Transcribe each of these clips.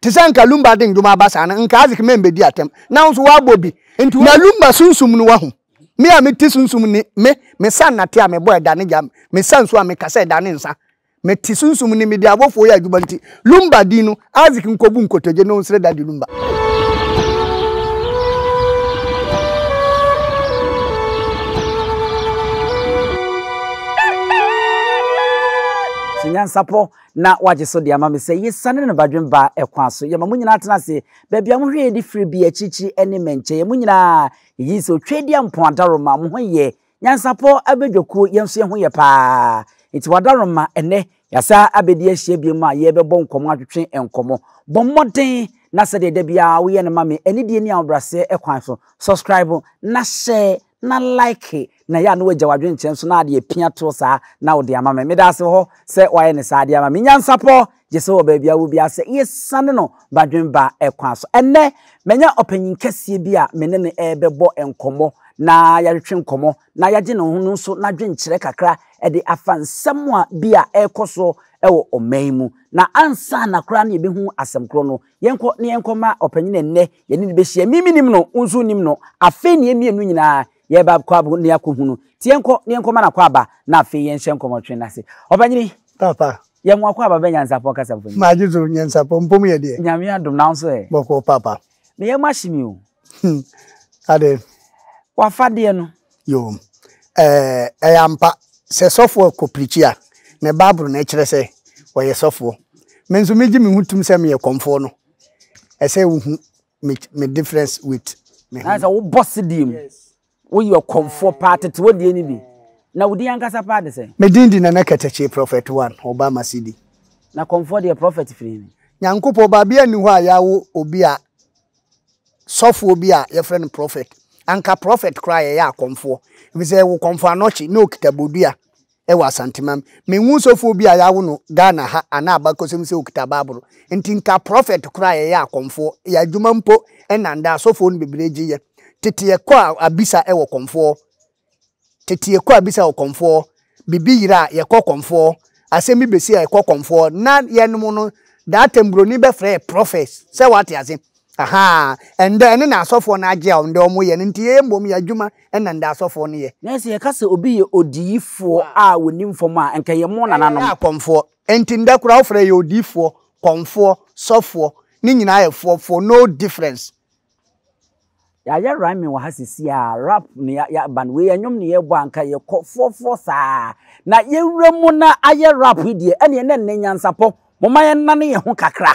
Te sɛ nka Lumba de ndwom aba saa no, nka Isaac mɛmbɛdi atɛm. Nanso wabɔ bi. Na Lumba sunsum no wahu. Me a mete sunsum ni, me, me sa nnate a mebɔ ɛda ne gya, me sa nsu a me kasa ɛda ne nsa. Mete sunsum ni, mede abɔfoɔ yɛ adwuma nti, Lumba din no, Isaac nkɔbu nkotodwe na ɔnsrɛ Daddy Lumba. Nyansapɔ. na wagye so de ama me sɛ yesiane ne no badwen baa ɛkwan so. Yɛma mo nyinaa tena ase, baabi a mohwɛ yɛn de firi bi, akyirikyiri ɛne mmɛnkyɛ. Yɛn mo nyinaa, yɛgye di sɛ Otwaadi Ampɔn Adaroma, mo ho yɛ, Nyansapɔ abadwakuo, yɛn nso yɛn ho yɛ paa. Enti wɔ Adaroma, ɛnnɛ, yɛasan abɛdi ahyia biom a yɛrebɛbɔ nkɔmmɔ, atwetwe nkɔmmɔ. Bɔ mmɔden na sɛdeɛ da biara woyɛ no ma me, anidie ne ahobrɛaseɛ kwan so, subscribe na hyɛ na like na ɛyɛ a na wagya w'adwene kyerɛ nso na ade apia toɔ saa na wode ama me. Meda ase wɔ hɔ sɛ woayɛ no saa de ama me. Nyansapɔɔ gye sɛ wɔ baabi a wowɔ biara sɛ yɛsiane no Badwenba kwan so. Ɛnnɛ, manya ɔpanyin kɛseɛ bi a me ne no rebɛbɔ nkɔmmɔ na yɛatwetwe nkɔmmɔ na yɛagye ne ho no nso n'adwenkyerɛ kakra de afa nsɛm a bi a ɛrekɔ so wɔ ɔman mu. Na ansa na koraa na yɛbɛhu asɛm korɔ no, Yɛnkɔ na yɛnkɔma ɔpanyin ɛnnɛ, yɛne no bɛhyia. Me menim no, wo nso nim no. Afei ne yɛmmienu nyinaa yɛba kɔ abo ne akɔhu no. Nti yɛnkɔ na yɛnkɔma no akwaaba na afei yɛnhyɛ nkɔmmɔtwe no ase. Ɔpanyini, Papa. yɛ mo akwaaba bɛ Nyansapɔn kasa mfonyin. Magye so, Nyansapɔn mpom yɛ deɛ? Nyame adom, na wo nso ɛ? Bɔkɔɔ papa. Meyɛ mo ahye me o. Hmm. Ade. W'afadeɛ no. Yo. Eh, ɛyɛ ampa. Sɛ sɔfoɔ kɔ pirikyi a, ne Bible na ɛkyerɛ sɛ ɔyɛ sɔfoɔ. Me nso megye me ho tom sɛ meyɛ kɔmfoɔ no. Ɛsɛ wohu me, me difference with me ho. Na sɛ wobɔ sedeɛ mu. Yes. Woyɛ ɔkɔmfoɔ paa tete wo deɛ ne bi na wo din ankasa paa de sɛn. Me din de Nana Kɛtɛkye Prophet one ɔba Masidi. Na kɔmfoɔ deɛ prophet firi he. Nyankopɔn ba bia nni hɔ a yɛawo obi a sɔfoɔ bi a yɛfrɛ no prophet anka prophet koraa a yɛyɛ akɔmfoɔ efisɛ yɛwo kɔmfoɔ anɔkye na ɔkita bodua wɔ Asantemam. Menhu sɔfoɔ bi a yɛawo no Ghana ha anaa abakɔsɛm sɛ ɔkita Bible. Nti nka prɔfɛt koraa a yɛyɛ akɔmfoɔ, yɛ adwuma mpo nnandaa asɔfoɔ no bebree gye yɛ. Tete yɛkɔ a abisa wɔ kɔmfoɔ, tete yɛkɔ a abisa wɔ kɔmfoɔ, biribi yera a yɛkɔ kɔmfoɔ, asɛm bi bɛsi a yɛkɔ kɔmfoɔ. Na yɛnom no that time buroni bɛfrɛ yɛ prɔfɛt, sɛ woate ase. Ahaa, ndɛ ɛno na asɔfoɔ no agye a ndɛ wɔyɛ no nti yɛyɛ mbom yɛ adwuma na ndɛ asɔfoɔ no yɛ. Nɛ sɛ yɛka sɛ obi yɛ odiyifoɔ a wɔnim fam a nka yɛ mo nananom. Yɛyɛ akɔmfoɔ nti ndɛ koraa wofrɛ yɛ odiyifoɔ, kɔmfoɔ, sɔfoɔ, ne nyinaa yɛ foɔ foɔ no difference. Yɛayɛ rhyming wɔ ha sesie a rap na yɛ yɛ aba no wei yɛ nwom na yɛbɔ a nka yɛ kɔ foɔ foɔ saa na yɛ wura mu na ayɛ rap yi deɛ ɛneɛ na nnɛ nyansapɔ momma yɛ nane yɛ ho kakra.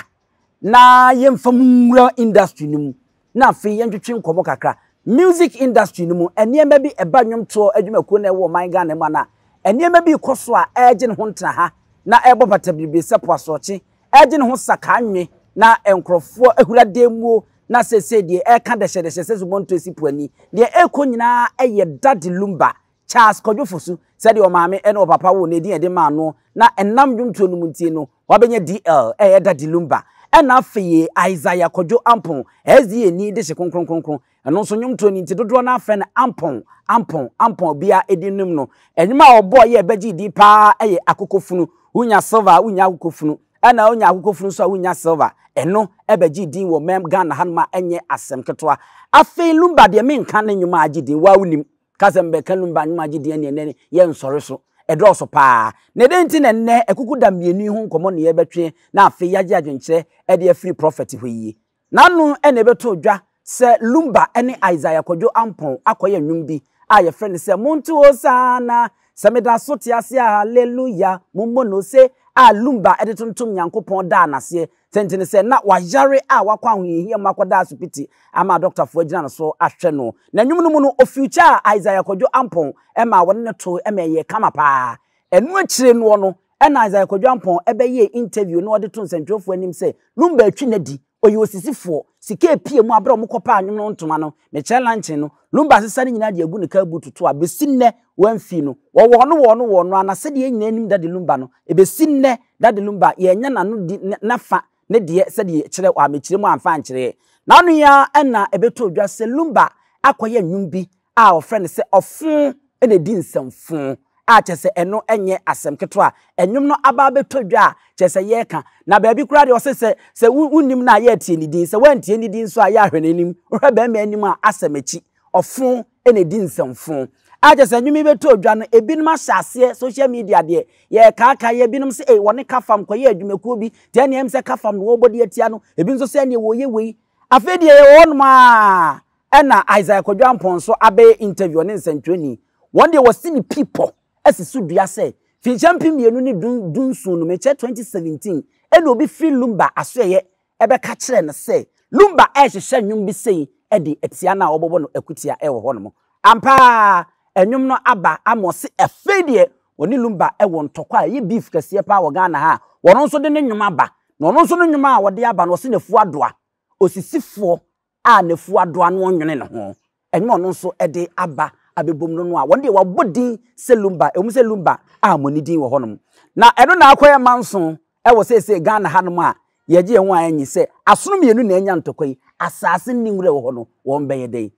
na yɛmfa mu nwura industry no mu na afei yɛntwetwe nkɔmmɔ kakra. Music industry no mu, nneɛma bi ɛba nnwomtoɔ adwumakuo na ɛwɔ ɔman Ghana mu anaa? Nneɛma bi rekɔ so a ɛregye ne ho ntena ha na ɛrebɔ bata bebree sɛ po asorɔkye, ɛregye ne ho sakaa nwe na nkurɔfoɔ ahura dan muo na seesei deɛ ɛreka dɛhyɛdɛhyɛ sɛ zobonto asi po ani. Deɛ ɛrekɔ nyinaa yɛ Daddy Lumba Charles Kwadwo Fosu sɛ deɛ ɔmaame ne ɔpapa woo no edin a yɛde maa no na ɛnam nnwomtoɔ no mu nti no wabɛnya DL a ɛyɛ Daddy Lumba. Ɛna afei Isaiah Kwadwo Ampon, SDA ni de hye Kronkronkronkron, ɛno nso nnwomtoɔ no nti dodoɔ no ara frɛ no Ampon, Ampon, Ampon, obiara edin nom no. Nnwom a ɔbɔɔ yɛ a ɛbɛgyee din pa ara yɛ Akokofunu, Wonya Silver a Wonnya Akokofunu, ɛna Wonya Akokofunu nso a Wonnya Silver, ɛno ɛbɛgyee din wɔ mɛm Ghana hanom a ɛnyɛ asɛm ketewa. Afei Lumba deɛ menka ne nnwom a agye din wo ara wonim. Ka sɛ mebɛka num baanu ma agye din a nea ɛnnɛ yɛ nsɔre so. Ɛdɔɔso paa. Na dɛn nti na ɛnnɛ akukuda mmienu yi ho nkɔmmɔ na yɛrebɛtwe na afei yɛagye adwenkyerɛ de afiri Prɔfɛt hɔ yi? N'ano na ɛbɛtoo dwa sɛ Lumba ne Isaiah Kwadwo Ampong akɔyɛ nnwom bi a yɛfrɛ no sɛ Monto Hosanna, Sɛ meda so te ase a Hallelujah, Mommɔ Nose, a Lumba de tontom Nyankopɔn daa no aseɛ Sɛnti ne sɛ na wayare a wakɔ ahohiahia mu akɔda asopiti ama adɔktafo agyina no so ahwɛ no. Na nwom no mu no, ofiukyɛɛ Isaiah Kwadwo Ampong maa wɔne no toe ma ɛyɛɛ kama paa. Ɛno akyire noɔ no na Isaiah Kwadwo Ampong bɛyɛɛ interview na ɔde too nsɛntwerɛfoɔ anim sɛ Lumba atwi no adi, ɔyɛ osisifoɔ, sika apue mu, aberɛ a wɔkɔpaa nwom no ntoma no, Michelle Lanchen no, Lumba asesa ne nyinaa de agu ne kaa buutu to a bɛsi nnɛ wɔamfi no, wɔ wɔn wɔn wɔn no ara sɛdeɛ yɛn nyinaa nim Dade Lumba no, ɛbɛsi nnɛ Dade Lumba yɛannya n'ano di n'afa ne deɛ sɛdeɛ yɛkyerɛ wɔ amekyerɛ mu amfa ankyerɛɛ. N'ano yi ara na ɛbɛtɔɔ dwa sɛ Lumba akɔyɛ nnwom bi a wɔfrɛ no sɛ ɔfõ na ɛdi nsɛm fõ a kyerɛ sɛ ɛno nyɛ asɛm ketewa a nnwom no aba abɛtɔ dwa a kyerɛ sɛ yɛreka na baabi koraa deɛ ɔse sɛ sɛ wonnim no a yɛreteɛ ne din sɛ woantie ne din nso a yɛ ahwɛ n'anim wohwɛ bɛrima anim a asɛm akyi ɔfõ na ɛdi nsɛmfo. A kyɛ sɛ nnwom yi bɛtɔɔ dwa no, ebinom ahyɛ aseɛ, social media deɛ, yɛrekaakae, ebinom sɛ ei, wɔne Kafam kɔyɛɛ adwumakuo bi, te ɛnneɛ ɛm sɛ Kafam na wɔrebɔ de atia no, ebi nso sɛ ɛnneɛ wɔreyɛ wei. Afei deɛ yɛwɔ hɔnom ara ɛna Isaiah Kwadwo Amponsah abɛyɛ interview, ɔne nsɛntwerɛni. Wɔn deɛ wɔasi ne pi pɔ asi so dua sɛ, finhyia mpem mmienu ne du, du nson no, mekyɛ 2017, ɛna obi firi Lumba asoɛeɛ bɛka kyerɛɛ no sɛ Lumba rehyehyɛ nnwom bi sei de atia no a wɔbɛbɔ no akutia wɔ hɔnom. Ampa ara, nnwom no aba ama ɔse afei deɛ ɔne Lumba wɔ ntɔkwa a ɛyɛ beef kɛseɛ paa wɔ Ghana ha a ɔno nso de ne nnwom aba. Na ɔno nso ne nnwom a ɔde aba no ɔse n'afuo adoa. Osisifoɔ a n'afuw adɔ ano ɔnwene ne ho, ɛnyɛ ɔno nso de aba abɛbom no no a, wɔn deɛ wɔabɔ din sɛ Lumba, ɛwom sɛ Lumba ammɔ ne din wɔ hɔnom. Na ɛno na akɔyɛ manso wɔ seesei Ghana hanom a yɛgye yɛn ho a enye sɛ asono mmienu na anya ntɔkwa yi, asaase nni nwura wɔ hɔ no, wɔbɛyɛ dɛn?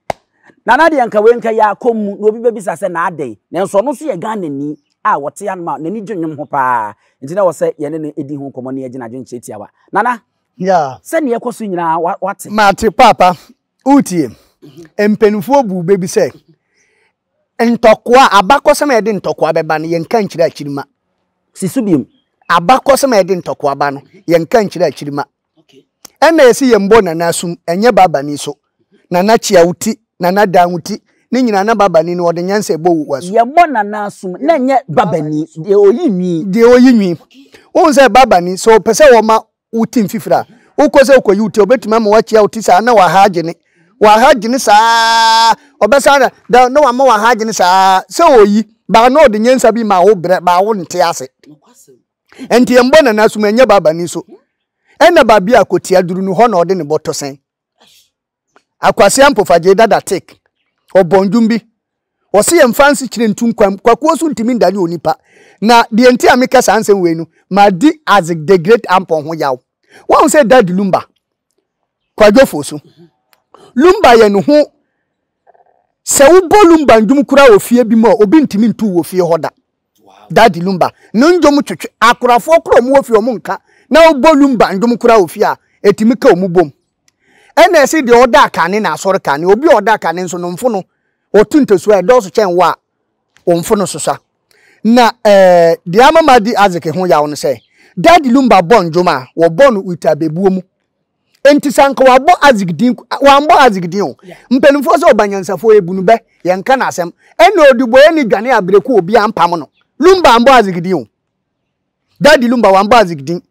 Na na deɛ anka wei nka yɛ akɔ mu na obi bɛbisa sɛ na adɛn? Nanso ɔno nso yɛ Ghanani a ɔte hanom a n'ani gye nnwom ho paa, nti na ɛwɔ sɛ yɛne no di ho nkɔmmɔ na yɛgye n'adwene kyerɛ tiawa. Nana, Yeah. Sɛ nea ɛkɔ so nyinaa wa- wate. Mate paapa, wotie. Mpanimfoɔ buu bɛ bi sɛ ntɔkoa, abakɔsɛm a ɛde ntɔkoa bɛba no, yɛnka nkyerɛ akyiri ma. Si so biom. Abakɔsɛm a ɛde ntɔkoa ba no, yɛnka nkyerɛ akyiri ma. Okay. Ɛnna yɛsi yɛn bɔ nana asum, ɛnyɛ Babani so. Nana Kyia wo ti, Nana Dan wo ti, ne nyinaa na babani no ɔde nyansa ɛbɔ wo asu. Yɛbɔ Nana asom na ɛnyɛ babani, deɛ ɔyi nwi. Deɛ ɔyi nwi. Wohu sɛ babani, sɛ ɔpɛ sɛ ɔma wo ti mfifiri a, wokɔ sɛ wokɔyi wo ti a, ɔbɛtumi ama woakyia wo ti saa na w'aha agyene. W'aha gyene saa ara, ɔbɛsan na, da, na wama w'aha agyene saa ara. Sɛ ɔyi, baa na ɔde nyansa bi ma wo brɛ, baa wonte ase. Ɛnti yɛmbɔ Nana asom, ɛnyɛ babani so. Ɛna baabi a kɔtiaduru no, hɔ na ɔde ne bɔtɔ sɛn. Akwasia Mpofagyei Dada Take, ɔbɔ ndwom bi. Ɔse yɛmfa nsekyerɛ ntu nkwa mu. Kwakuo so ntumi ndane onipa. Na deɛ nti a meka saa nsɛm wei no, madi Isaac the Great Ampon ho yaw. Wahu sɛ Dad Lumba, Kwadwofoɔ so. Lumba yɛ ne ho sɛ wobɔ Lumba ndwom koraa wɔ fie bi mu a, obi ntumi ntu wɔ fie hɔ da. Daddy Lumba no ndwom twetwe akorafoɔ koro a wɔwɔ fie a wɔn nka na wɔbɔ Lumba ndwom koraa wɔ fie a, ɛtumi ka wɔn bom. Ɛna ɛse deɛ ɔda akane na asɔre kane, obi a ɔda akane nso no mfono, ɔtu ntasuo a ɛdɔɔso kyɛn wɔ a, wɔn mfono susua. Na eh, deɛ ama madi Isaac ho yaw no sɛ, Daddy Lumba bɔ ndwom a, wɔbɔ no with abebuo mu. Enti sɛ anka wabɔ Isaac din, wambɔ Isaac din o. Mpanimfoɔ sɛ ɔba nyansafoɔ yɛ bunu bɛ, yɛnka no asɛm. Ɛna ɔdubɔeɛ ne dwane abrɛku obi ampam no. Lumba ambɔ Isaac din o. Daddy Lumba wambɔ Isaac din.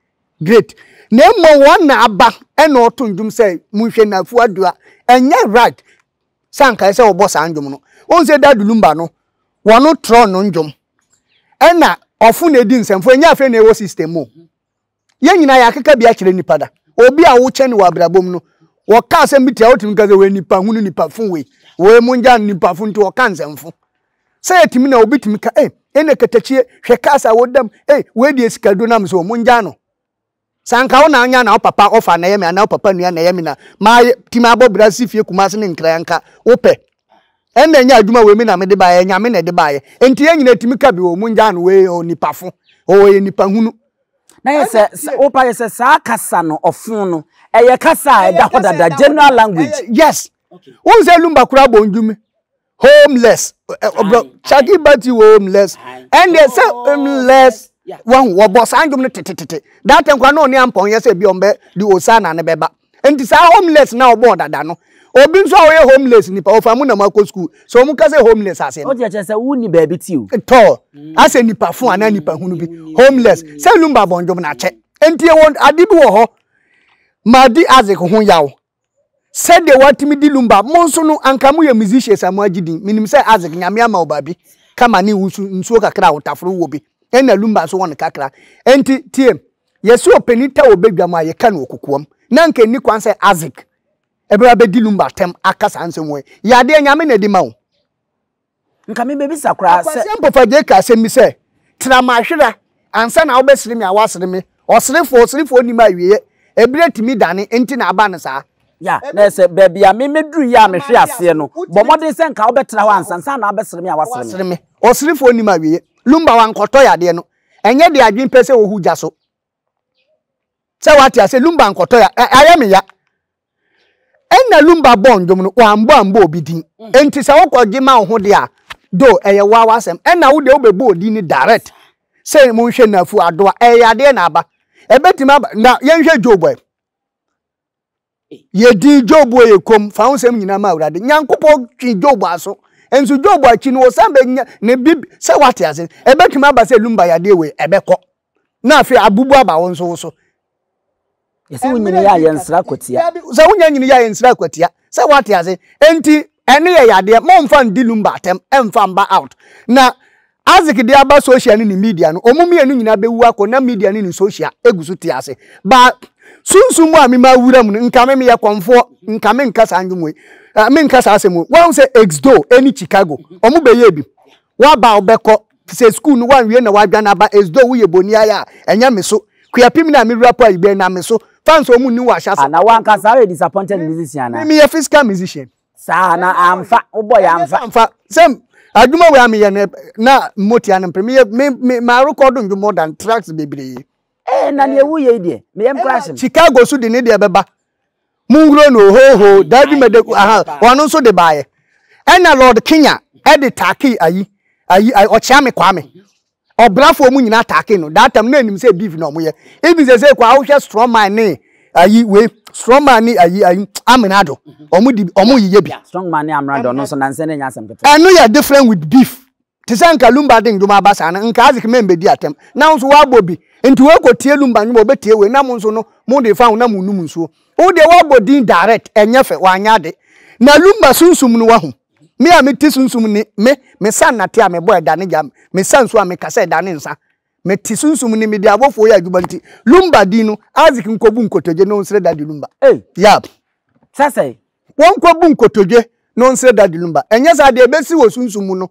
Great. Na mmom wɔn na aba ɛna ɔto ndwom sɛ monhwɛ Nafu Adua. Ɛnyɛ right sɛ anka ɛsɛ ɔbɔ saa ndwom no. Wohu sɛ Daddy Lumba no, wɔn trɔ no ndwom. Ɛna ɔfo na ɛdi nsɛmfo, ɛnyɛ afei na ɛwɔ system mu o. Yɛn nyinaa yɛakeka bi akyerɛ nnipa da. Obi a wokyɛn wɔ abrabɔ mu no, wɔkaa sɛ miti a wotumi ka sɛ wei nipa hunu nipa fo wei. Wei mo ngya nipa fo nti wɔka nsɛmfo. Sɛ yɛtumi na obi tumi ka, ei, ɛnna katakyie, hwɛ cars a wɔdam, ei, wei deɛ sika duro nam so, mo ngya no. Sɛ anka wo na anya na wo papa ɔfa na ɛyɛ me anaa wo papa nua na ɛyɛ me na maayɛ tumi abɔ bra si fie Kumasi ne Nkran anka wopɛ. Ɛnna ɛnyɛ adwuma wei me na mede baeɛ, ɛnyame na ɛde baeɛ. Enti yɛn nyinaa tumi ka bi, o mo ngya no wei, o nipa fo, o ɔyɛ nipa hunu. Na yɛ sɛ wo pa yɛ sɛ saa kasa no ɔfon no ɛyɛ kasa a ɛda hɔ dada general language. Yes. Wo sɛ lumba kura bɔ ndwumi. Homeless. Obro chaki bati homeless. And they say homeless. Wɔn wɔbɔ saa ndwom no tetetete. That nkwa no ne ampɔn yɛ sɛ bi ɔmbɛ di osa na ne bɛba. Nti saa homeless na ɔbɔɔ dada no obi nso a ɔyɛ homeless nipa ɔfa mu na mo akɔ school so ɔmo ka sɛ homeless ase no. Ɔde akyɛ sɛ wo ni baabi ti o. Tɔɔ asɛ nipa fo anaa nipa hunu bi homeless sɛ lumba bɔndwom na akyɛ nti ɛwɔ ade bi wɔ hɔ ma di Isaac ho yaw sɛdeɛ watumi di lumba mo nso no anka mo yɛ musicians a mo agye din menim sɛ Isaac nyame ama wo baabi kama ne wusu nsuo kakra a wotaforo wɔ bi ɛna lumba nso wɔ no kakra nti tiem Yɛse ɔpanin ta wɔ badwam a, yɛka no wɔ kokoam. Na anka ɛnni kwan sɛ Isaac ɛbɛba abɛdi Lumba atɛm aka saa nsɛm wɔ yi. Yɛ adeɛ, Nyame na ɛde ma wo. Nka mebɛbisa koraa sɛ. Akwasi Ampofo Adjei ka asɛm bi sɛ, Tra m'ahwera ansa na wobɛsere me a woasere me. Ɔserefoɔ, ɔserefoɔ nnim awieɛ. Ɛberɛ tumi dane, enti na aba no saa. Ya, na ɛsɛ, baabi a me mɛduru yi a mehwe aseɛ no, bɔ mmɔden sɛ nka wobɛtra hɔ ansa na wabɛsere me a woasere me. Ɔserefoɔ nnim awieɛ. Lumba wankɔtɔ yadeɛ no, ɛnyɛ de adwene pɛ sɛ wohu gya so sɛ wate ase lumba nkɔtɔ ya ayɛ me ya ɛna lumba bɔ ndwom no wambɔ ambɔ obi din mm. enti sɛ wokɔgye ma wo ho de a do ɛyɛ woa w'asɛm ɛna wo deɛ wobɛbɔ odin no direct sɛ monhwɛ nafu adoa ɛyɛ adeɛ na aba ɛbɛtumi aba na yɛnhwɛ job ɛ Yedii Job oye komm, fa wo nsɛm nyinaa ma Awurade. Nyankopɔn twe Job aso. Nso Job akyi no, ɔsan bɛnya ne bib sɛ wate ase. Ɛbɛtumi aba sɛ Lumba yadeɛ wei, ɛbɛkɔ. Na afei abubu aba wo nso wo so. Yɛse wo nyini yɛ a yɛnsra kwatia. Sɛ wonya nyini yɛ a yɛnsra kwatia. Sɛ wate ase. Enti ɛne yɛ yadeɛ, mommfa ndi Lumba atɛm, ɛmfa mba out. Na Isaac de aba social ne ne media no, wɔn mmienu nyinaa bɛwu akɔ na media ne ne social gu so te ase. Baa sunsum mu a mema wura mu no, nka me meyɛ kɔmfoɔ, nka menka saa nnwom wei, eh, menka saa asɛm wei. Wɔahu sɛ Exdo ne Chicago, wɔn bɛyɛ bi. Waba a wobɛkɔ sɛ sukuu no wanwie na wadwane aba Exdo woyɛ boni ayɛ a, ɛnyɛ me so. Kuapim na me wura po ayi bɛn na me so. Fans wɔn nni wɔ ahyɛse. Ah, na wankasa woyɛ disappointed musician a? Me meyɛ physical musician. saa na amfa wobɔ yɛ amfa amfa sɛ adwuma wei a meyɛ no na mmotia no mpere meyɛ me me marekɔdo ndwo more than tracks bebree ɛɛ na deɛ woyɛ yi deɛ meyɛm kora asɛm chicago so de ne deɛ bɛba monhuro no hoho dabi mede aha ɔno nso de baeɛ ɛna lord kenya ɛde taakee ayi ayi ɔkyea me kwame Ɔbrafoɔ ɔmo nyinaa attack no that time na ɛnim sɛ beef na ɔmo yɛ even sɛsɛ koraa wohwɛ strong man ne ayi wei strong man ne ayi ayi aminado ɔmo di ɔmo yiyɛ bi. Strong man ne aminado ɔno nso nansɛ ne nya asɛm ketewa. Ɛno yɛ different with beef te sɛ nka lumba de ndwom aba saa no nka azik mɛn bɛdi atɛm na wo nso wabɔ bi nti wei kɔ tie lumba ndwom ɔbɛ tie wei na mo nso no mo de fa ho na mo num nsuo wo deɛ wabɔ din direct ɛnyɛ fɛ wanyɛ ade na lumba sunsum no wahu. Me a mete sunsum ni, me, mesa nnate a mebɔ ɛda ne gya, mesa nsu a mekasa ɛda ne nsa. Mete sunsum ni, mede abɔfoɔ yɛ adwuma nti, Lumba din no, Isaac nkɔbu nkotodwe na ɔnsrɛ Daddy Lumba. Ei! Yap. Sɛ sɛn? Wɔnkɔbu nkotodwe na ɔnsrɛ Daddy Lumba. Ɛnyɛ saa deɛ, ɛbɛsi wɔ sunsum mu no,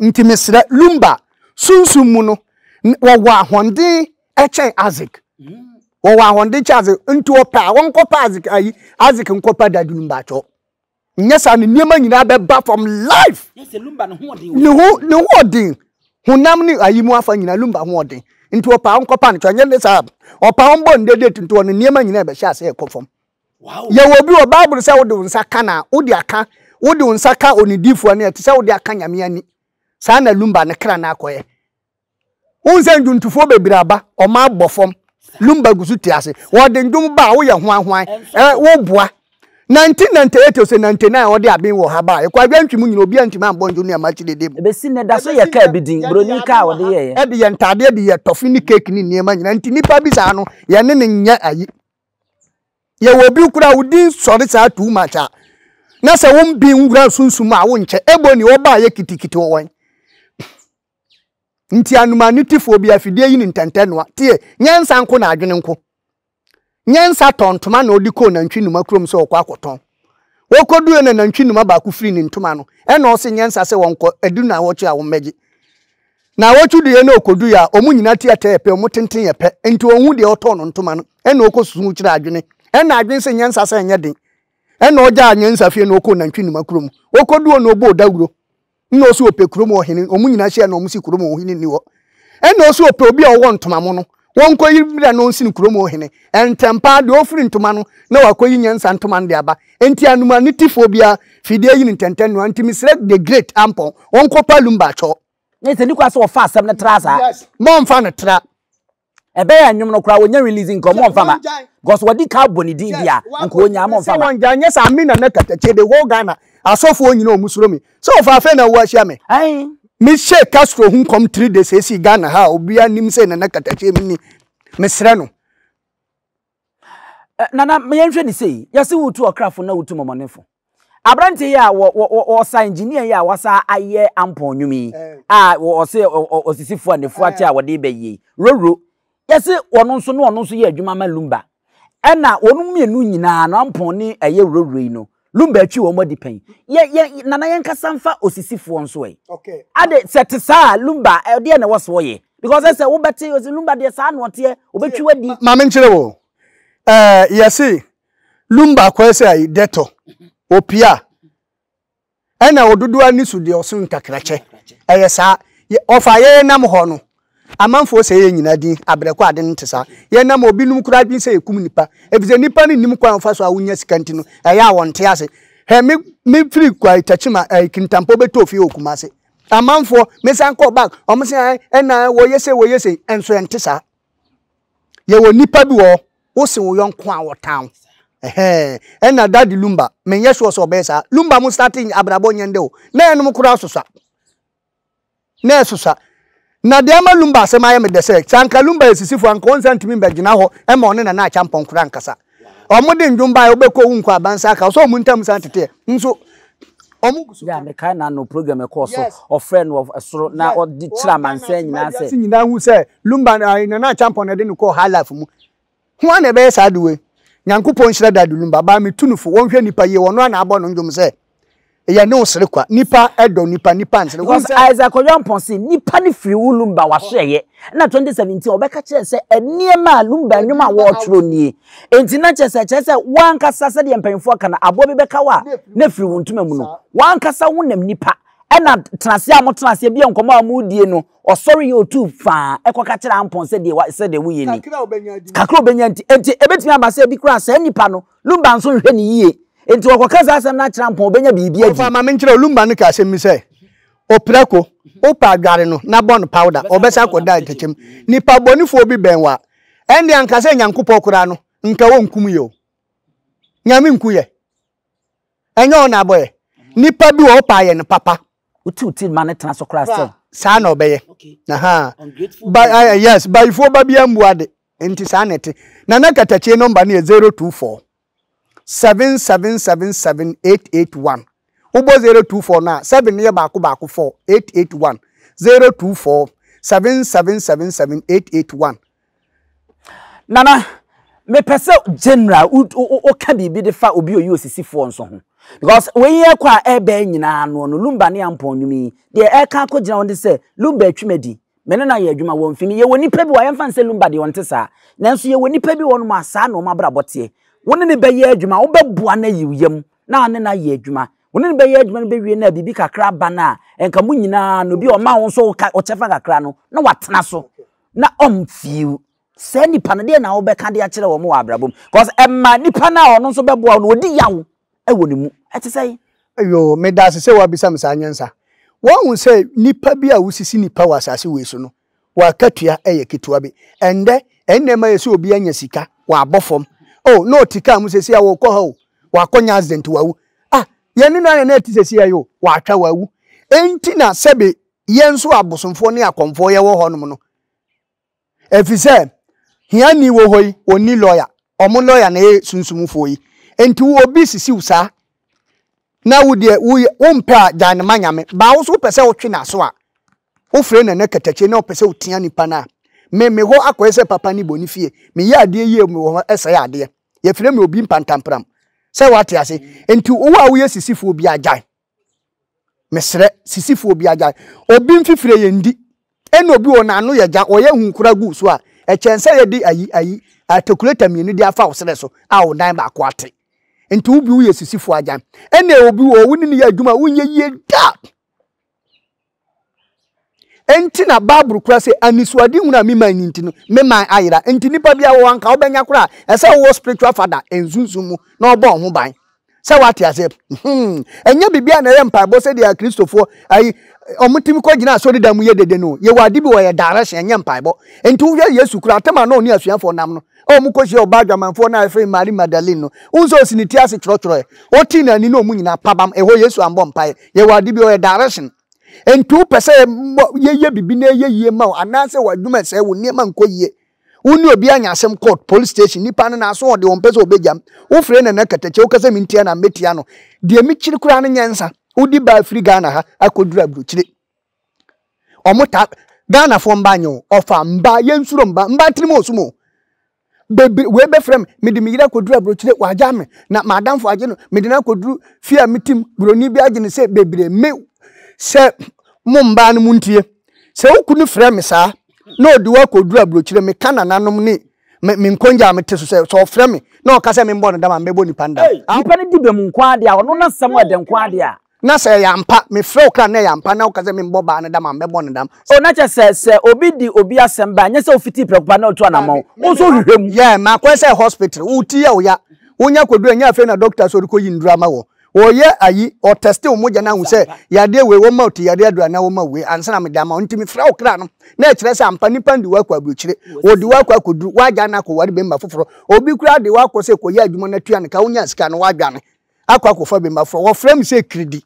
Ntsi meserɛ, Lumba, sunsum mu no, wɔwɔ ahoɔnden kyɛn Isaac. Wɔwɔ ahoɔden kyɛn Isaac. Ntsi ɔpɛ a, ɔnkɔpɛ Isaac ayi, Isaac nkɔpɛ Dadu Lumba kyɛw. Nnyɛ saa no, nneɛma nyina bɛba fam live. Ne ho ne ho ɔden, honam ne ayi mu afa nyina, Lumba ho ɔden. Ntsi ɔpɛ a, ɔnkɔpɛ no kyɛw. Nnyɛ ne saa, ɔpɛ a, ɔmbɔ no dɛ date ntoɔ no, nneɛma nyina bɛhyɛ ase rekɔ fam. Yɛwɔ obi wɔ Bible sɛ wode wo nsa ka na wode aka wode wo nsa ka onidifoɔ no ɛte sɛ wode aka nyame ani saa na lumba ne kra no akɔyɛ wohu sɛ ndwontofoɔ bebree aba ɔma abɔ fam lumba gu so te ase wɔde ndwom ba a woyɛ hoahoan woboa 1998 ose 99 wɔde aben wɔ ha ba ɛkɔ adwantwi mu nyina obiara ntumi ambɔ ndwom ne ɛma akyi dede mu ɛbɛsi nnɛ da so yɛ kaa bi din buroni kaa wɔde yɛyɛ ɛde yɛ ntaadeɛ de yɛ tɔfe ne keeki ne nneɛma nyina nti nipa bi saa no yɛne ne nyɛ ayi Yɛwɔ obi koraa a wo din sɔre saa too much a na sɛ wo bi nwura sunsum a wonkyɛ ebo ni ɔbaa yɛ kitikiti wɔ wɔn nti anuma ne tifoɔ bi afidie yi ne ntɛntɛ noa tie nyansa nko na adwene nko nyansa tɔn ntoma na ɔde kɔɔ nantwi numa kurom sɛ ɔkɔ akɔtɔn Wokoduui no nantwi numa baako firii ne ntoma ano. Ɛnna ɔse nyɛ nsa sɛ wɔnkɔ, adu naawɔtwe a wɔmmɛgye. Naawɔtwe duiɛ na okoduui a, wɔn nyinaa ti ɛtɛɛ pɛ, wɔn tenten yɛ pɛ, enti onhu deɛ ɔtɔɔ no ntoma no. Ɛnna okosusuu kyerɛɛ adwene. Ɛnna adwene se nyɛ nsa sɛ ɛnyɛ den. Ɛnna ogyaa nyansa fie na okoo nantwi numa kurom. Okoduuo no oboo dawuro. Nna ɔsɛ ɔpɛ kurom hɔ hene, wɔn nyinaa hyia na wɔn si kurom hɔ hene nni hɔ. Ɛnna ɔsɛ ɔpɛ obi a ɔwɔ ntoma mo no, wɔnkɔyi mmra na ɔnsini kurom hɔ hene. Ntɛm paa, deɛ ɔrefiri ntoma no, na wakɔyi nyansa ntoma no de aba. Enti anoma no tifoɔ biara firi deɛ ayi no ntɛntɛn no, enti mesrɛ the great Ampɔn, wɔnkɔpa Lumba Akyɔɔ. Ɛnyɛ sɛ nni kwan sɛ wɔfa asɛm no tra saa. Yes, mommfa no tra. Ɛbɛyɛ a nnwom no koraa wɔnya release nka wɔn mfa ma because wɔde car bɔ ne din bia nka wɔnya wɔn mfa ma. Sɛ wɔn gyae nyɛ saa me nana katakyie the whole Ghana asɔfoɔ nyinaa wɔn suro me sɛ ɔfa afei na wɔ ahyia me. Aii. Me hyɛɛ Castro ho nkɔm three days ɛsii Ghana ha a obiara nim sɛ nana katakyie me ni me srɛ no. Nana, ma yɛnhwɛ no sei, yɛse wotu ɔkrafo na wotu mɔmɔnefo. Aberante yi a wɔsa engineer yi a wasa ayɛ ampɔn nnwom yi a wɔse ɔsisifo a nefua te a wɔde bɛ yi, Roro, yɛse ɔno nso na ɔno nso yɛ adwuma ma Lumba. Ɛna wɔn mmienu nyinaa no, ampɔn ne ɛyɛ Roro yi no, Lumba atwi wɔn adi pɛn. Yɛ yɛ nana yɛn kasa nfa osisifoɔ nso ɛ. Okay. Ade sɛ te saa Lumba ɛdeɛ na ɛwɔ so ɔyɛ. Because ɛsɛ wobɛte osi Lumba deɛ saa na ɔteɛ obɛtwi wadi. Maame nkyerɛ wɔ. Ɛɛ yɛse Lumba akɔyɛ sɛ ayi dɛtɔ opia ɛna ododoɔ ani so deɛ ɔso ntakrakyɛ ɛyɛ saa ɔfa yɛyɛ nam hɔ no. Amanfoɔ sɛe yɛn nyinaa din abrɛ kɔ, ade no nte saa. Yɛn nam wɔ binom koraa adwene sɛ yɛkum nnipa, efisɛ nnipa no nnim kwan a wɔfa so a wonya sika nti no, ɛyɛ a wɔnte ase. Hwɛ, me, me firi Kwayi Tachim a, ɛɛ, Kintampo bɛtɔɔ fie wɔ Kumasi. Amanfoɔ, me san kɔɔ back, wɔn se ae, ɛna ae, wɔyɛ sei, wɔyɛ sei, ɛnso ɛnte saa. Yɛwɔ nnipa bi wɔ hɔ, wose wo yɔnko a wɔtan wo. Ɛhɛɛ, ɛna Daddy Lumba, menyɛ sure sɛ ɔbɛyɛ saa. Lumba mo starte abrabɔ nyɛ ndɛ o, na yɛnom koraa sosa. na ɛsesa. Na deɛ ama Lumba asɛm ayɛ me dɛ sɛ, sɛ anka Lumba yɛ sisifo a, anka ɔnsa ntumi mmɛgyina hɔ mma ɔne Nana Akyang Pɔnkora nkasa. Wɔde nnwom baeɛ, wobɛkɔ a wonnkɔ a, bansa aka wo sɛ wɔn ntam san teteɛ. Nso wɔn gu so Yeah, ka. mekae n'ano program a ɛkɔɔ so, Yes. ɔfrɛɛ no wɔ soro na Yes. ɔde kyerɛɛ amansan nyinaa sɛ. Wiase nyinaa hu sɛ Lumba, ayi, Nana Akyang Pɔn na ɛde no kɔɔ High Life mu. Hwan na ɛbɛyɛ saa ade wei? Nyankopɔn nhyira Dadu Lumba, baa me tu no fo, wɔnhwɛ nipa yie, wɔno ara na abɔ no ndwom sɛ, yɛ ne wo sere kwa, nipa dɔ nipa, nipa nsere, wohu sɛ. Isaac Oyampong se nipa no firi wo Lumba w'ahweɛyɛ, ɛna 2017 ɔbɛka kyerɛ sɛ nneɛma a Lumba nnwom a wɔɔtwerɛ nie, enti na kyerɛ sɛ ɛkyerɛ sɛ wo ankasa sɛdeɛ mpanyinfoɔ ka no aboa bi bɛka wo a na ɛfiri wo ntoma mu no, wo ankasa wonam nipa Ɛna tenaseɛ a motena aseɛ bia nkɔmɔ a modie no, ɔsɔre yɛ otu faa ɛkɔ ka kyerɛ ampɔn sɛ deɛ sɛ deɛ woyɛ ni. Kakra a obɛnya nti. Enti ɛbɛtumi aba sɛ ebi koraa saa nipa no, Lumba nso nhwɛ no yie. Enti ɔkɔka saa asɛm no akyerɛ ampɔn, ɔbɛnya biribi adi. Ɔfa ma menkyerɛ wo, Lumba no kaa asɛm bi sɛ, Oprako, wopɛ a dware no na bɔ no powder, ɔbɛsan akɔda atɛkyɛ mu. Nipa bɔnefoɔ bi bɛn wo a, ɛnde anka sɛ Nyankopɔn koraa no, nka ɔnkum yɛ o. Nyame nku yɛ. Ɛnyɛ wo na abɔ yɛ. Nipa bi wɔ hɔ paa yɛ no papa. Wote wo ti ma no tena so koraa sɛ. Saa na ɔbɛyɛ. Ahaa. Ba ayɛ yes bayifoɔ ba bi ambu ade. Nti saa na ɛte. Nana Katakyie nɔmba no yɛ zero two four seven seven seven seven eight eight one. Wobɔ zero two four no a seven no yɛ baako baako four eight eight one zero two four seven seven seven seven eight eight one. Nana, mepɛ sɛ general woka biribi de fa obi oyi osisifoɔ nso ho. Because wei ɛkɔ a ɛbɛɛ nyinaa no no Lumba ne Ampɔn nnwom yi deɛ ɛka akɔ gyina wɔn de sɛ Lumba atwi m'adi. Me ne no ayɛ adwuma wɔ mfini. Yɛwɔ nipa bi wɔ yɛmfa nsɛ Lumba deɛ ɔnte saa. Nanso yɛwɔ nipa bi wɔ nom a saa na wɔn abrabɔ teɛ. Wo ne no bɛyɛ adwuma, wobɛboa no ayi wo yam na wo ne no ayɛ adwuma. Wo ne no bɛyɛ adwuma no bɛwie no a biribi kakra ba no a nka mo nyinaa no bi a ɔma wo nso wo kyɛfa kakra no na watena so. na ɔmfii wo. Saa nipa no, deɛ na wobɛka de akyerɛ wɔn wɔ abrabɔ mu? Cause ɛma nipa no a ɔno nso bɛboa wo no, ɔdi yaw wɔ ne mu. Ɛte sɛn? Yoo, medase sɛ woabisa me saa nyansa. Woahu sɛ nnipa bi a wosisi nnipa wɔ asase wei so no, wɔn akatua yɛ ketewa bi. Ɛnnɛ, nneɛma yɛ sɛ obi anya sika, wabɔ fam. Oh, na ɔte kaa mu seesei a ɔrekɔ ha o, wakɔnya accident, wawu. Ah, yɛn ne no ayɛ na ɛte seesei a yi o, watwa, wawu. Enti na sɛbe yɛn nso abosomfoɔ ne akɔmfoɔ yɛwɔ hɔnom no ɛfiri sɛ hiani wɔ hɔ yi ɔnni lɔya ɔmo lɔya na ɛyɛ sunsumfoɔ yi nti obi sisiw saa na wo deɛ woyɛ wompɛ a gyae no ma nyame baa wo so wopɛ sɛ wotwe n'aso a wofrɛ no ɛnɛ katakye na wopɛ sɛ wotia nipa no a me me hɔ akɔyɛ sɛ papa ne bɔ ne fie meyɛ adeɛ yie mewɔ hɔ ɛsɛe adeɛ yɛfrɛ me obi mpantampram sɛ wate ase nti wo a woyɛ sisifoɔ bi agyae Mesrɛ sisifoɔ obi agyae obi mfifire yɛn di ɛna obi wɔ n'ano yɛ gya ɔyɛ hu kora gu so a ɛkyɛn sɛ yɛde ayi ayi atakuleta mmienu de afa wo serɛ so a wo nan baako ate nti wo bi woyɛ sisifoɔ agyan ɛna obi wɔ wo ne ne yɛ adwuma a wonyɛ yie da Enti na Bible kura sɛ anisoadehunu a me man ni nti no, me man ayera. Enti nipa bi awɔ anka wobɛnya kora a, ɛsɛ wowɔ spiritual father nsunsum mu na ɔbɔ ho ban. Sɛ wate aseɛ. Hmm. Ɛnyɛ biribi a na ɛyɛ mpaebɔ sɛ deɛ Kristofoɔ ayi wɔn tumi kɔ gyina asɔredan mu yɛ dede no. Yɛwɔ ade bi wɔ yɛ direction ɛnyɛ mpaebɔ. Enti wohwɛ Yesu kura atɛm a na ɔne asuafoɔ nam no. a wɔkɔhyiaa ɔbaa adwamanfoɔ no a yɛfrɛ no Mari Magdalene no, wohu sɛ ɔsi ne ti ase twerɛtwerɛɛ. Ɔtee no ani na wɔn nyinaa pabam. Ɛhɔ Yesu ammɔ mpaeɛ. Yɛwɔ ade bi, ɔyɛ direction. Enti wopɛ sɛ yɛyɛ biribi na ɛyɛ yie ma wo anaasɛ w'adwuma ɛsɛe, wo nneɛma nkɔ yie, wo ne obi anya asɛm court, police station, nnipa no n'aso ɔde ɔmpɛ sɛ ɔbɛgyam, wofrɛ Nana Katakyɛ woka sɛ mentia no a mɛtia no. Deɛ mekyiri koraa ne nyɛnsa. Wode baa firi Ghana ha akɔduru aburokyire. ɔmo ta ghanafoɔ mba nyɛ o ɔfa mba yɛnsuro mba mba tirim osum o bebre wei bɛfrɛ me mede me yere akɔduru aburokyire wagya me na m'adamfo agye no mede no akɔduru fie a metim buroni bi agye no sɛ bebre me sɛ mo mbaa no montie sɛ wo kunu frɛ me saa na ɔde wo akɔduru aburokyire meka nananom ne me me nkongya a mete so sɛ sɛ ɔfrɛ me na ɔka sɛ membɔ no dam a mɛbɔ nipa no dam Ei, nipa no di bem nko ara deɛ a, ɔno n'asɛm ɛdɛ nko ara deɛ a. Na sɛ ɛyɛ ampa, mefrɛ wo kra na ɛyɛ ampa, na woka sɛ memmɔ baa no dam a, mɛbɔ no dam. O, na kyerɛ sɛ, sɛ obi di obi asɛm bɛn a, ɛnyɛ sɛ wofiti prɛko pɛ na otu anamɔn. Wo nso wohwehwɛ mu. Yeah, makɔyɛ sɛ hospital, wo ti yɛ wo ya, wonya kɔduru a, ɛnyɛ afei na doctor sɔre kɔyi nnuru ama wo. Wɔyɛ ayi, wɔtɛste wo mogya no ahu sɛ yadeɛ wei, wɔma wo tiyareɛ aduru anaa wɔma wo wei, ansa na mede ama wo. Nti mefrɛ wo kra no, na ɛkyerɛ sɛ ampa nnipa no de wo akɔ aburokyire, wɔde wo akɔ akɔduru, woagya no akɔware bɛmma foforɔ, obi koraa de wo akɔ sɛ kɔyɛ adwuma na tua no ka, wonyaa sika no, woadwane. akɔ akɔfa bi ma frɛ wɔfrɛ me sɛ kiridi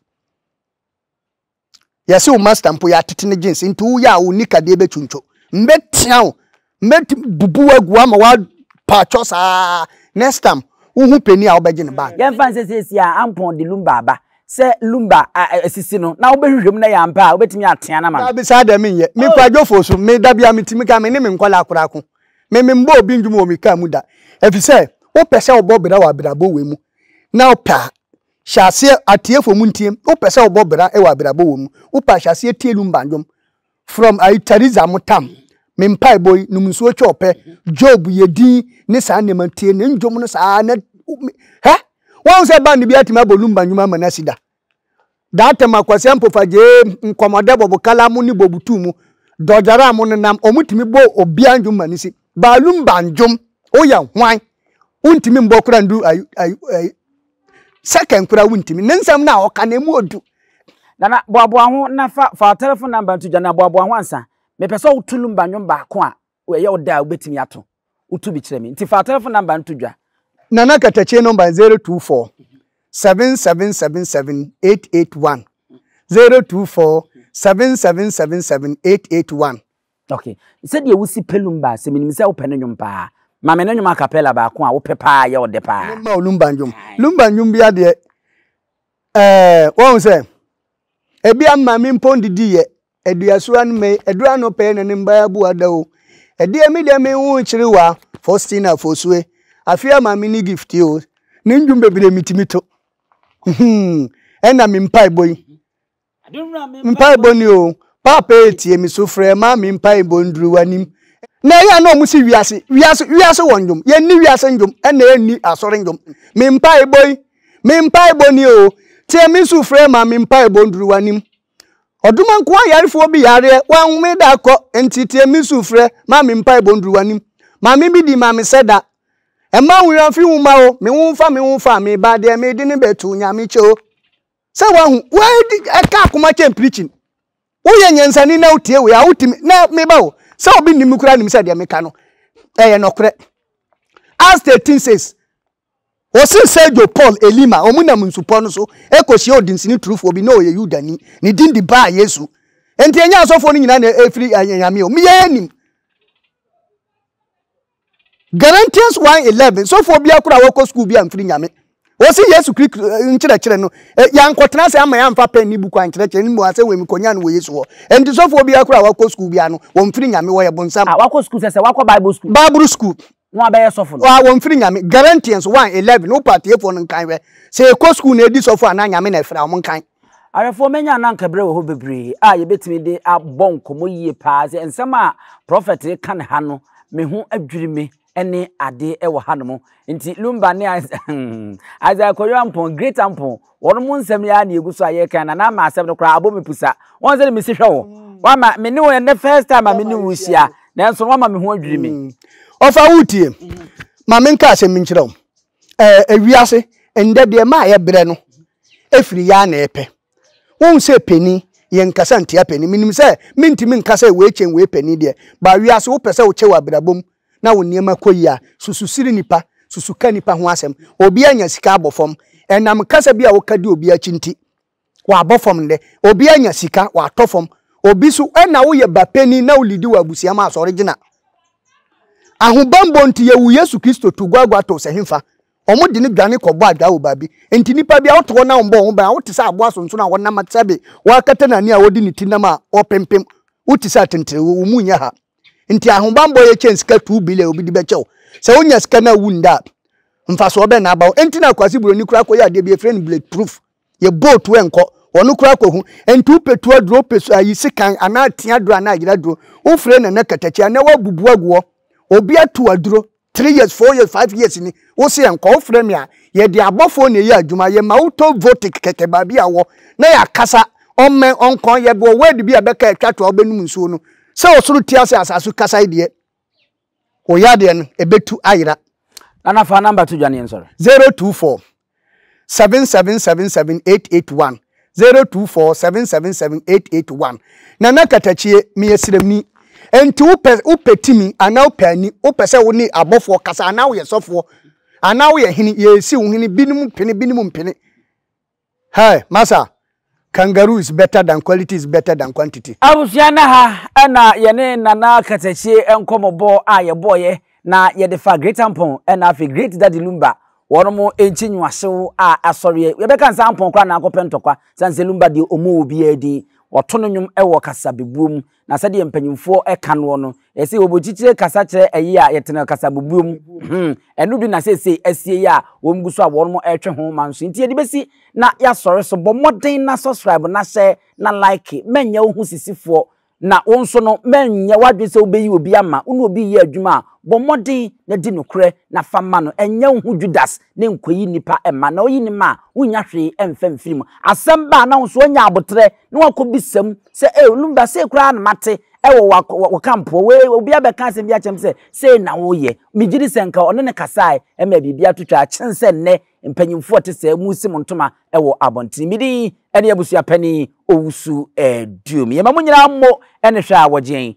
yɛse wo master mpo yɛatete ne jeans nti woyɛ a wo nika deɛ bɛtwuntwo mbɛtea wo mbɛti bubu wagu ama woapaatwɔ saa next time wohu pɛni a wobɛgye ne bag yɛmfa nsɛ siesie a ampɔn de lumba aba sɛ lumba asisi no na wobɛhwehwɛ mu na yɛ ampa a wobɛtumi atea no ama me daabi saa deɛ menyɛ mekɔ adwofoɔ so meda bia metumi ka me ne me nkɔla akora ko Me memmɔɔ obi ndwom wɔ me kaa mu da. Ɛfiri sɛ, wopɛ sɛ wobɔ bra wɔ abirabɔ wɔ mu na wopɛ a, hyɛ aseɛ atiefo mu ntie. Wopɛ sɛ wobɔ bra wɔ abirabɔ wɔ mu, wopɛ a hyɛ aseɛ tie lumba ndwom. From ayi Theresa Motam, Me mpaebɔ yi, Nom nsuo twɛ ɔpɛ, Job, Yɛ din ne saa nneɛma no, tie ne ndwom no saa na hɛ! Woahu sɛ band biara atumi abɔ lumba ndwom ama no asi da? Dantem akwasia mpofagyeem nkɔmɔdɛ bɔbokala mo ne bobutu mu dɔgyara mo nenam ɔmo tumi bɔ obia ndwom ma ne si baalum ba ndwom woyɛ hwan wontumi mbɔ kora ndu ayi ayi second kora wontumi ne nsɛm no a ɔka na emu odu Nana boaboa ho na fa fa telefon number nto gya na boaboa ho ansa mepɛ sɛ woto lumba ndwom baako a Wo ɛyɛ wo dɛ a wobɛtumi ato wo to bi kyerɛ me nti fa wo tɛlɛfon namba no to dwa. Nana Katakyie nɔmba yɛ 024 7777 881, 024 7777 881. Ok, sɛdeɛ wosi pɛ lumba a, sɛ menim sɛ wopɛ ne nwom paa, ma me ne nwom acapella baako a wopɛ paa a ɛyɛ wo dɛ paa. Memma wo lumba nwom. Lumba nwom bia deɛ, ɛɛ, woahu sɛ, ɛbia mma me mpɔn didi yɛ, Aduasoa no mɛi, ɛduru anɔpa yi na ne mba abu ada o. Ɛdeɛ me deɛ me wo nkyere wa Faustina Fosuɛ, afeɛ ama me ne gift yi o. Ne ndwom bebree me tumi to. Hmm, ɛna me mpaebɔ yi. Mpaebɔ ni o. Paapa yɛ tie me so frɛ ma me mpaebɔ nduru w'anim. Na ɛyɛ a na ɔmo si wiase, wiase, wiase wɔ ndwom. Yɛn ni wiase ndwom, ɛna yɛn ni asɔre ndwom. Me mpaebɔ yi, me mpaebɔ ni o. Tie me so frɛ ma me mpaebɔ nduru w'anim. Ɔdoma nkoa yarefoɔ bi yareɛ, wanhome da akɔ, nti tie me su frɛ, ma me mpaebɔ nduru w'anim. Maame bi di ma me sɛ da. Ɛmma wo werɛ mfi wo mma o, me ho mfa me ho mfa, me ba deɛ mede no bɛto Nyame kyɛ o. Sɛ wahu, wadi ɛka akoma kyɛn preaching. Woyɛ nyansani na wotie wei a wotumi, na me ba o, sɛ obi nim me koraa nim sɛ deɛ meka no, ɛyɛ nɔkorɛ. Acts 13 says, Wɔsee Sergio, Paul, Elima, wɔnam nsupɔ no so kɔhyiaa ɔdensini turofoɔ bi, na ɔyɛ Yudani, ne din de Bar-Yesu. Enti ɛnyɛ asɔfoɔ no nyinaa na ɛfiri anyame o, meɛ nim. Galatians 1:11, Sɔfoɔ biara koraa a wɔkɔ sukuu bi amfiri nyame. Wɔse Yesu Kristo nkyerɛkyerɛ no, yɛankɔtena ase amma yɛamfa pɛn ne buku ankyerɛkyerɛ no, mmom asɛm wei mekɔnyaa no wɔ Yesu hɔ. Enti sɔfoɔ biara koraa a wakɔ sukuu biara no, wɔmfiri nyame, wɔyɛ bonsam. A, wakɔ sukuu sɛ sɛ wakɔ Bible sukuu. Bible sukuu. Wɔn a bɛyɛ sɔfo no. Wɔn a wɔmfiri Nyame. Galatians one eleven, Wopɛ atiefoɔ no nkan hwɛ. Sɛ yɛkɔ sukuu na ɛdi sɔfo anaa Nyame na ɛfrɛ a, wɔnkan. Awɛfoɔ, manya na anka berɛ wɔ hɔ bebree a yɛbɛtumi de abɔ nkɔmmɔ yie paa sɛ nsɛm a prɔfɛt reka no ha no, me ho adwiri me ne adeɛ wɔ hanom. Nti Lumba ne Isaiah Kojo Ampong, Great Ampong, wɔn mu nsɛm yi ara na egu so a yɛkan na n'ama asɛm no koraa abɔ me pusa wɔn sɛ mesi hwɛ wo wama me ne wo ɛnɛ first time a me ne wo hyia nanso wama me ho adwiri me. Mm. ɔfa wo tie mm-hmm. ma me nka asɛm nkyerɛ wo ɛɛ ewiase ndɛ deɛ maa yɛ brɛ no efiri yɛ ana ɛpɛ wɔn sɛ panin yɛn nkasa ntia panin menim sɛ mentumi nkasa wei kyɛn wei panin deɛ baa wiase wopɛ sɛ wokyɛ wɔ abirabom na wo nneɛma kɔ yie a, susu sere nnipa, susu ka nnipa ho asɛm. Obi anya sika abɔ fam. Ɛnam kasa bi a woka di obi akyi nti, wabɔ fam nnɛ. Obi anya sika, watɔ fam. Obi so, ɛna woyɛ ba panin na wolidi wɔ abusua mu a, sɔre gyina. Ahobammɔ nti, yɛwoo Yesu Kristo too gua agua too sɛ hefa? Wɔde no dwane kɔbɔ adwaa wɔ baabi. Enti nnipa bi a wote hɔ na wɔbɔ wɔn bɛn a, wote sɛ aboa sonsono a wɔnam sɛbe wɔakata n'ani a wɔde ne ti nam a wɔpempem. Wote sɛ atenterew, wo mu nyɛ ha. Nti ahobanbɔ yɛ kyɛn sika two billion a obi de bɛkyɛ wo. Sɛ wonya sika no a wu nda a, mfasoɔ bɛn na aba wo? Nti na Kwasi Buroni koraa kɔyɛ adeɛ bi a yɛfrɛ no bullet proof. Yɛ bolt nkɔ. Ɔno koraa kɔhu. Nti wopɛ tu aduro, wopɛ ayi sekan anaa tea aduro anaa ayera aduro, wofrɛ Nana Katakyia na wabubu agu hɔ. Obi atu aduro. three years four years five years ni wosi yɛn kɔ wofrɛ mi a yɛde abɔfoɔ na ɛyɛ adwuma yɛ ma wotɔ votic kɛkɛ baabi a wɔ na yɛ akasa ɔmmɛn ɔnkɔn yɛ bɔ word bi a bɛka ɛtwa to a wobɛnum nsuo no sɛ ɔsoro ti ase asase kasa yi deɛ wɔyɛ adeɛ no ɛbɛtu ayera. Nana fa number to dwaneɛ nsɔre. zero two four seven seven seven seven eight eight one zero two four seven seven seven eight eight one nana katakyie meyɛ srɛmni nti wopɛ wopɛ timi anaa wopɛ ani wopɛ sɛ wo ne abɔfoɔ kasa anaa woyɛ sɔfoɔ anaa woyɛ hene yɛsi wo hene binom mpene binom mpene hɛ masa Kangaroo is better than quality is better than quantity. Abusua na ha na yɛne Nana Kasakyie nkɔmɔbɔ a yɛbɔɔeɛ na yɛde fa Great Ampon na afei Great Daddy Lumba wɔn mo nkyi nwoasew a asɔreɛ yɛbɛka nsɛ Ampon koraa na akɔpɛ ntɔkwa sane sɛ Lumba deɛ ɔmmu obiara din wɔto no nwom wɔ kasabebuo mu Na sɛdeɛ mpanyimfoɔ ka noɔ no, yɛsɛ wɔbɔ kyikyire kasa kyerɛ ɛyɛ a yɛtena kasabubuo mu. Hmm, ɛno bi na seesei asie yi a wɔn gu so a wɔn ɛretwe ho ma nso. Nti yɛde bɛsi na yɛasɔre so. Bɔ mmɔden na subscribe na hyɛ na like. Mɛnyɛ wo ho sisifoɔ na wo nso no mɛnyɛ w'adwene sɛ wobɛyi obi ama. Wo ne obi reyɛ adwuma a, bɔ mmɔden na di nokorɛ na fa ma no. Ɛnyɛ wo ho Judas ne nkɔyi nnipa mma. Na woyi no ma a, wonnya hwee mfa mfiri mu. Asɛm ba a na wo nso woanya aboterɛ na wakɔbisa mu sɛ ee lumba sei koraa na mate wɔ wɔ kampoɔ wei obi abɛka asɛm bi akyɛm sɛ sei na woyɛ megye di sɛ nka ɔne ne kasae ɛma biribi ato twa akyen sɛ nnɛ mpanyimfoɔ te sɛ mu si mo ntoma wɔ abɔntene me din ɛne abusua panin owusu ɛduom yɛma mo nyinaa mmo ɛne hwɛ a wɔgye yɛn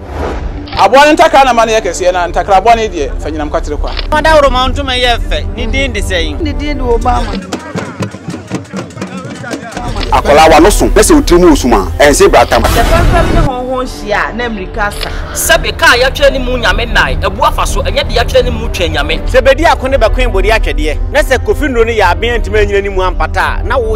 Aboa no ntakra na ma no yɛ kɛseɛ, na ntakra bɔne deɛ, fa nyinam kwatere kwa. Fa dawuroma ntoma yɛ fɛ, ne din de sɛn? Ne din de Obama. Akwadaa w'ano so na sɛ wo tiri mu wɔ sum a, ɛnse bratamu. Sɛ pɛmpɛm ne hɔnho nhyia a, na mmirika asa. Sɛbe kaa yɛatwerɛ ne mu Nyame nnae, abu afa so, ɛnyɛ de yɛatwerɛ ne mu Twɛn Nyame. Sɛ bɛdi ako ne bɛkoe bɔdi atwɛdeɛ, na sɛ Kofi Nnuro no yɛ aben antumi anyini ne mu ampata a, na wo.